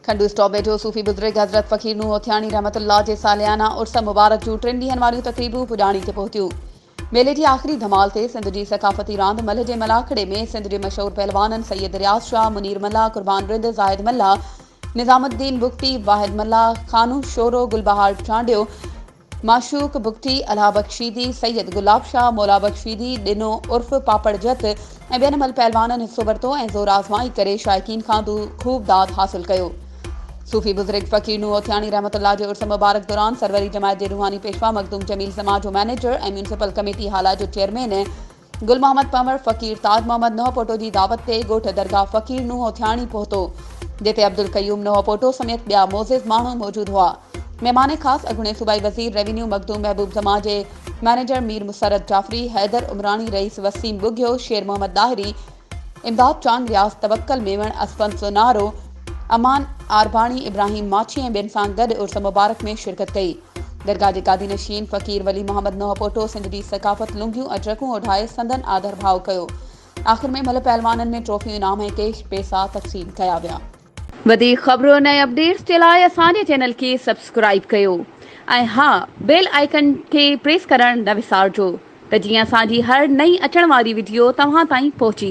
کنڊو stop ويجهو صوفي بزرگ حضرت فقير نوح هوٿياڻي رحمت الله جي ساليانا عرس مبارڪ جون ٽن ڏينهن واريون تقريبون پڄاڻي تي پهتيون ميلي جي آخري ڌمال تي سنڌ جي ثقافتي راند ملهه جي ملاکڙي ۾ سنڌ جي مشهور پهلوانن سيد رياض شاهه منير ملاح قربان رند زاهد ملاح نظام الدين بگٽي، واحد ملاح، خانو شورو، گلبهار چانڊيو، معشوق بگٽي، الهه بخشيدي، سيد گلاب شاهه، مولا بخشيدي، ڏنو عرف پاپڙ جت ۽ ٻين ملھ پهلوانن حصو ورتو ۽ زور آزمائي ڪري شائقين کان خوب داد حاصل ڪيو. صوفي بزرگ فقير نوح هوٿياڻي رحمة الله جي عرس مبارڪ دوران سروري جماعت جي روحاني پيشوا مخدوم جميل زمان جو مئنيجر ۽ ميونسپل ڪميٽي هالا جو چيئرمين گل محمد پنور فقير تاج محمد نوحپوٽو جي دعوت تي ڳوٺ درگاهه فقير نوحوٿياڻي پهتو، جتي عبدالقيوم نوحپوٽو سميت ٻيا معزز ماڻهو موجود هئا. مهمان خاص اڳوڻي صوبائي وزير ريونيو مخدوم محبوب زمان جي مئنيجر مير مسرت جعفري، حيدر عمراڻي، رئيس وسيم ٻگهيو، شير محمد ڏاهري، امداد چانگ، رياض توڪل ميمڻ، اسفند سونارو، امان عارباڻي، ابراهيم ماڇي ۽ ٻين سان گڏ عرس مبارڪ ۾ شرڪت ڪئي. درگاهه جي گادي نشين فقير ولي محمد نوحپوٽو سنڌ جي ثقافت لنگيون ۽ ٽرڪون اوڍائي سندن آڌر ڀاء ڪيو. آخر ۾ ملهه پهلوانن ۾ ٽرافيون انعام ۽ ڪيش پيسا تقسيم ڪيا ويا. وڌيڪ خبرن ۽ اپڊيٽس جي لاء اسان جي چينل کي سبسڪرائيب ڪيو ۽ ها بيل آئيڪن کي پريس ڪرڻ نه وسارجو ته جيئن اسان جي هر نئين اچڻ واري وڊيو توهان تائين پهچي